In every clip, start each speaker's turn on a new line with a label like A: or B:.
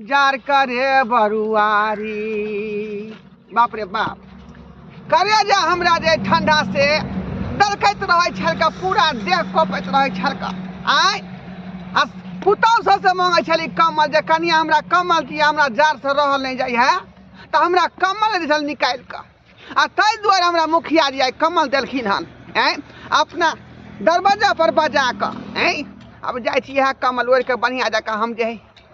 A: जार करे बरुआरी बाप रे बाप करे जे हमरा जे ठंडा से दलकैत रहै छलका पूरा देह कपैत रहै छलका आय आ पुतहु सबसँ मांगै छली कमल जे कनिया हमरा कमल दिअ हमरा जाड़सँ रहल नहि जाइ है तऽ हमरा कमल दै छल निकालि कऽ आ ताहि दुआरे हमरा मुखिया जी आइ कमल देलखिन हन आँय अपना दरवाजा पर बजा कऽ आँय अब जाइ छी इएह कमल ओढ़ि कऽ बढ़िआँ जकाँ हम जे हइ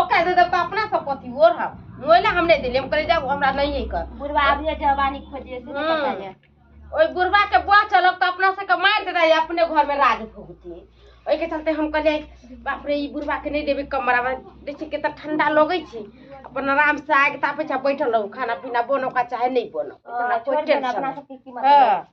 A: ओकरा दे देब तऽ अपना सब कथी ओढ़ब मोइला हम नहि देलियै हम कहलियै जाउ हमरा नहिए कर बुढ़वा आबिए जवानी खोजिए से नहि पता ये ओहि बुढ़वा के बुआ चलब तऽ अपना सबके मारि देता या अपने घर में राज भोगती ओहिके चलते हम कहलियै बाप रे ई बुढ़वा के नहि देबै कमरा में देखिए केतना ठंडा लगै छै अपन आराम से आग तापे छै बैठल रहू खाना पीना बनो का चाहे नहीं बनो इतना कोई छोड़ देना टेंशन अपना नहीं। सबके कीमत हाँ।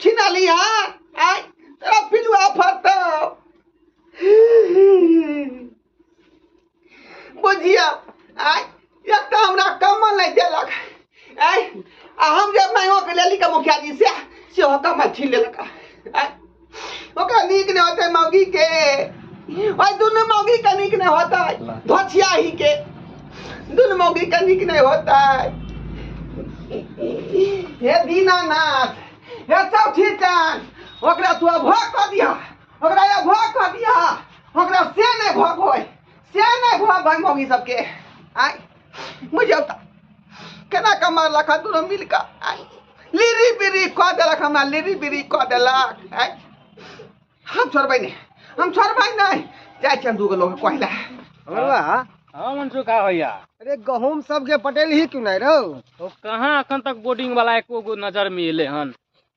A: छिनाली हाँ आय तेरा पिलुआ फरता बुझिया आय एक तो हमरा कमल नहीं देलक आय आ हम जे मांगो के लेली के मुखिया जी से से हो कमल छीन लेलक आय ओकरा नीक नहि होतै मौगी के ओहि दुनू मौगी के नीक नहि होतै धोछियाही के दुनू मौगी के नीक नहि होतै हे दीनानाथ हे चौठी चान ओकरा तू भोग कऽ दिया ओकरा ये भोग कऽ दिया ओकरा से नहि भोग होय से नहि भोग होय मौगी सबके आय बुझौता केना कमा लख दुनू मिल कऽ आँय? लिरी बिरी कऽ देलक हमरा लिरी बिरी कऽ देलक आँय? हम छोड़बै नहि हम छोड़बै नहि जाइ छियनि दूगो लोक कहै लए बड़वा हाँ मंसू का भैया अरे गहूम सबके पटेल ही क्यों नहीं रहो तो कहाँ अखन तक बोर्डिंग वाला एको गो नजर में एले हन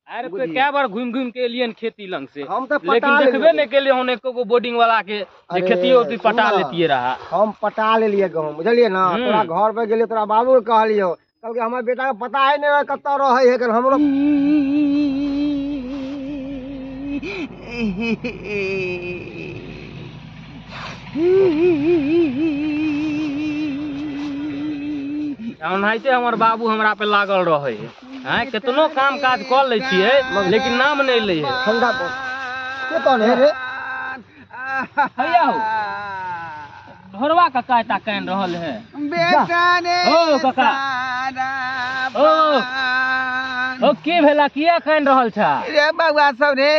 A: अरे कोई कए बार घुमि घुमि के एलियन खेती लंग से हम तऽ लेकिन पटा देखबे लेलियै। नहीं केलिए होने एको गो बोर्डिंग वाला के जे अरे, खेती होती पटा सुन ना। लेतिए रहा हम पटा लेलियै गहूँम बुझलियै ना हम्म। तोरा घर पर गेलियै तोरा बाबू के कहलियौ कहलकै हमर बेटा के पता है नहीं कतऽ रहै है एखन हमरो ओनाहिते हमर बाबू हमरा पे लागल रहे आँय केतनो काम काज कऽ लै छियै लेकिन नाम नहि लै है ठंडा पर के कौन है रे हैया हो ढोरवा कका एता कान रहल है बेटा ने ओ कका ओ ओ की भेला किया कान रहल छा रे बउआ सब रे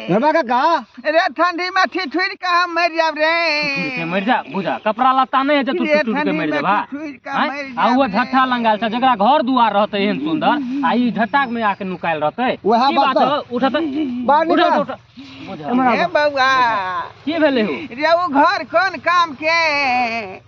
A: ढोरवा कका रे ठंडी में ठिठुर के हम मर जाब रे ठुठुर के मर जा बुझा कपड़ा लत्ता नहीं है जे तू रे ठुठुर के ठंडी मर में जाबा ठिठुर के आँय? मर आ जाब वो रे। झट्ठा लंगाल छै जकरा घर दुआर रहते एहन सुंदर आ ई झट्टा में आके नुकायल रहते वएह की बात बात हौ? उठत बाहर उठत निकल। उठत बुझा ए बौआ की भेलै हो रे उ घर कोन काम के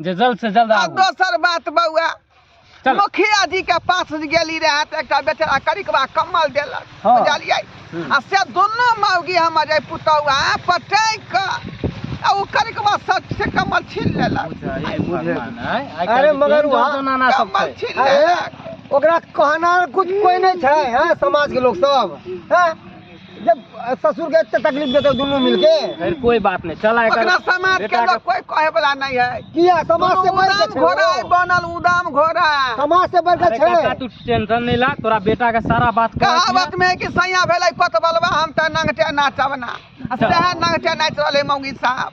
A: जे जल्द से जल्द आ आबू दोसर बात बउआ चल। मुखिया जी के पास गेली रहे तऽ एकटा बेचारा करिकबा कम्बल देलक हाँ। बुझलियै हम्म। आ से दुनू मौगी हमर जे पुतौआ पटैक कऽ आ ओ करिकबा सच से कम्बल छीन लेलक बुझाइ भगवान आइ अरे काल्हि मगर केहन वहाँ- जनाना सब कम्बल छै छीन अरे लेलक ओकरा कहना कुछ कोई नहीं छै हैं समाज के लोग सब हैं जब ससुर के एते तकलीफ देते दोनों मिलके फिर कोई बात नहीं चला एकर अपना समाज के बेटा लोग कोई कहे वाला नहीं है किया समाज से बढ़ के उदाम घोड़ा है छे बनल उदाम घोड़ा समाज से बढ़ के अरे काका छे तू टेंशन नहीं ला तोरा बेटा के सारा बात कर कहावत में है कि सैया भेलै पतबलवा हम त नंगटे नाचब ना आ सएह नंगटे नाचि रहलै मौगी साहब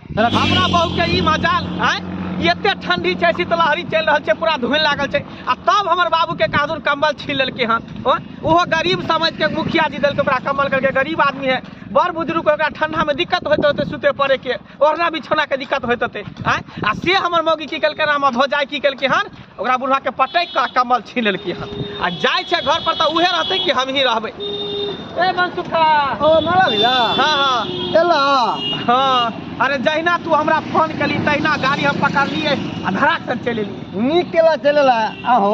A: हमरा बहू के ई मजाल आय ई एते ठंडी छै शीतलहरी चलि रहल छै पूरा धुन लागल छै आ तब हमर बाबू के कादुर कंबल छीन लेलकै हन ओ, ओहो गरीब समझ के मुखिया जी देलकै ओकरा कंबल करके गरीब आदमी है बड़ बुजुर्ग के ओकरा ठंडा में दिक्कत होइत होते सुते पड़े के ओढ़ना बिछौना के दिक्कत होइत होते आय आ से हमर मौगी की केलकै रामा भौजाई की केलकै हन ओकरा बुढ़वा के पटक के कमल छीन लेलकी हन आ जाय छै घर पर त उहे रहते कि हम ही रहबे ए मनसुखा ओ मारा भैया हां हां एला हां अरे जहिना तू हमरा फोन कली तहिना गाड़ी हम पकड़लिए आ धड़ाक से चलि एलिए नीक केला चलेला आहो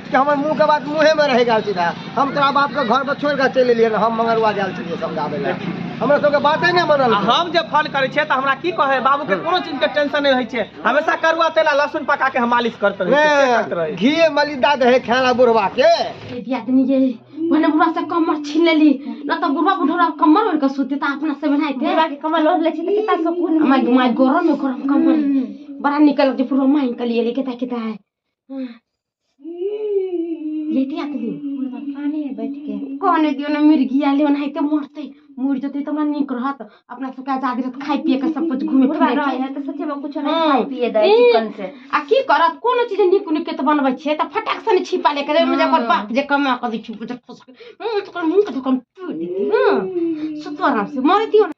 A: कि हमर मुँहके बात मुँहेमे रहि गेल सीधा हम तोरा बापके घरपर छोड़ि कऽ चलि एलियै हम मंगरुआ गेल छलियै समझाबै लए हमरा सबके बाते नहि बनल हम जे फोन करै छियै तऽ हमरा की कहै बाबूके कोनो चीजके टेंशन नहि होइ छै हमेशा करुआ तेल आ लहसुन पका के हम मालिश करते रहै घी मलिदा दे खाना बुढ़वा के दियादनी जे भने बुढ़वा से कमर छीन लेली न तऽ बुढ़वा बुढ़वा कमर ओढ़ के सुते तऽ अपना से बनाइ दे बुढ़वा के कमर ओढ़ ले छी तऽ कितना सुकून माय माय गरम में गरम कमर बड़ा निकल जे पूरा माइन के लिए केता केता है लेटिया के दियो मुर्गा काने में बैठ के काने दियो ने मुर्गी आले ओनाहिते मरते मर जते त हमरा नीक रहत अपना सबके आजादी रहत खाइ पिए के सब कुछ घूमे मुर्गा फिरे रहे के है तो सोचे बा कुछ नहीं हाँ। खाई पिए दे ई- चिकन से आ की करत कोनो चीज नीक नीक के त बनबै छियै त फटाक से ने छिपा लेके जाय मुझे ओकर बाप जे कमा के दै छै मुझे फसक मुंह तो कर मुंह के ढकन टूट देती हां सुतो आराम से मर दियो ने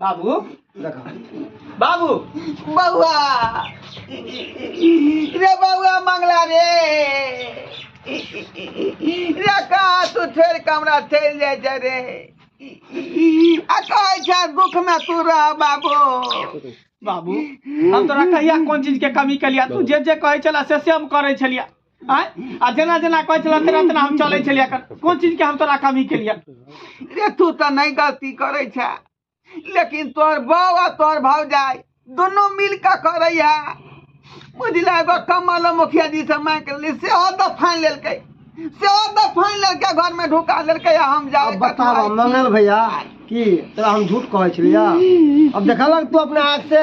A: बाबू देखा बाबू बउआ रे बउआ मंगला रे रे कहाँ तू छोड़ के हमरा चलि जाइ छै रे आ कहै छै दुख में तू रह बाबू बाबू हम तोरा कहिया कोन चीज के कमी केलिया तू जे जे कहै छला से से हम करै छलिया आँय? आ जेना जेना कहै छलहुँ तेना तेना हम चलै छलियै एखन कोन चीजके हम तोरा कमी केलियै रे तू तऽ नहि गलती करै छे लेकिन तोहर बाउ आ तोहर भौजाइ दुनू मिल कऽ करैया बुझले एगो कमल मुखिया जी से मांग के लेली सेहो तऽ फाइन लेलकै सेहो तऽ फाइन लेलकै घर में ढुका लेलकै आ हम जाए अब बताब मंगल भैया की तोरा हम झूठ कहै छलियै अब देखलक तू अपना आँख से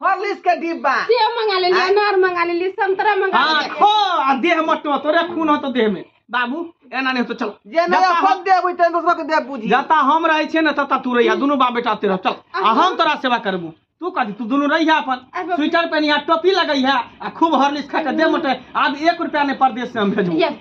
A: हॉर्लिक्स के डिब्बा सेव मंगा ले लिया अनार मंगा ले लिया संतरा मंगा ले हाँ लिया खो आ देह मटो तोरे खून हो तो देह में बाबू एना नहीं तो चल जे नहीं जता अपन हम- देबू तेन दोसर के देब बुझी जता हम रहे छे ना तता तू रहिया दुनू बाप बेटा तेरा चल आ हम तोरा सेवा करबू तू कथी तू दुनू रहिया अपन अब- स्वेटर पहनिया टोपी लगैया आ खूब हॉर्लिक्स खा के देह मटे आब एक रुपया ने परदेश से हम भेजबू Yes.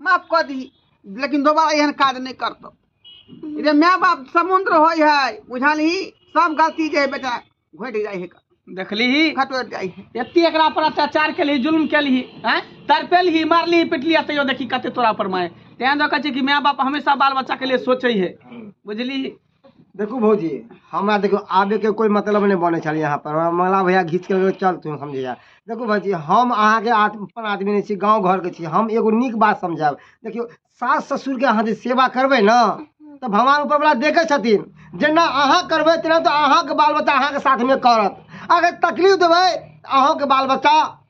A: माफ कऽ दी लेकिन दोबारा एहन काज नहि करतौ ई जे माय बाप समुद्र होइ है बुझलही सब गलती जे है बेटा घटि जाइ है देखली खटोरि जाइ है एते एकरा पर अत्याचार केलही जुल्म केलही हैं तड़पेलही मारलही पिटली आ तैयो देखी कते तोरा पर माय तें दऽ कहै छै कि माय बाप हमेशा बाल बच्चा के लिए सोचै है बुझली देखू भौजी हमरा देखियौ आबयके कोइ मतलब नहि बनै छल यहाँ पर मला भैया घीच के चल तू समझे जा देखू भाजी हम अहाँके अपन आदमी नहि छी गाँव घरके छी हम एगो नीक बात समझायब देखियौ सास ससुरके अहाँ जे सेवा करबै ने तऽ भगवान ऊपरवला देखै छथिन जेना अहाँ करबै तेना तऽ अहाँके बाल बच्चा अहाँके साथमे करत अगर तकलीफ देबै तऽ अहूँके बाल बच्चा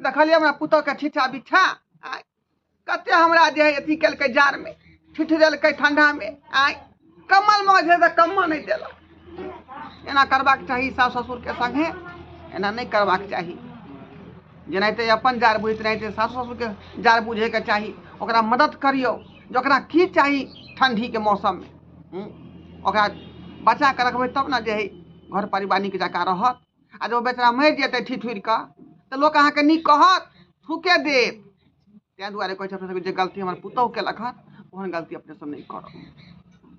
A: देखलियै हमरा पुतौहके छिछा बिछा आँय कते हमरा जे है अथी केलकै जाड़मे ठिठरेलकै ठंडामे आँय कम्बल माँझ है तऽ कम्बल नहि देलक एना करबाक चाही सास ससुरके संगे एना नहि करबाक चाही जेनाहिते अपन जाड़ बुझैत तेनाहिते सास ससुरके जाड़ बुझैके चाही ओकरा मदद करियौ जे ओकरा की चाही ठण्डीके मौसममे हूँ? ओकरा बचा कऽ रखबै तब ने जे है घर परिवार नीक जकाँ रहत आ जे ओ बेचारा मरि जेतै ठिठुरि कऽ तऽ लोक अहाँके नीक कहत थूके देत ताहि दुआरे कहै छै अपना सबके जे गलती हमर पुतहु केलक हन ओहन गलती अपने सब नहि करब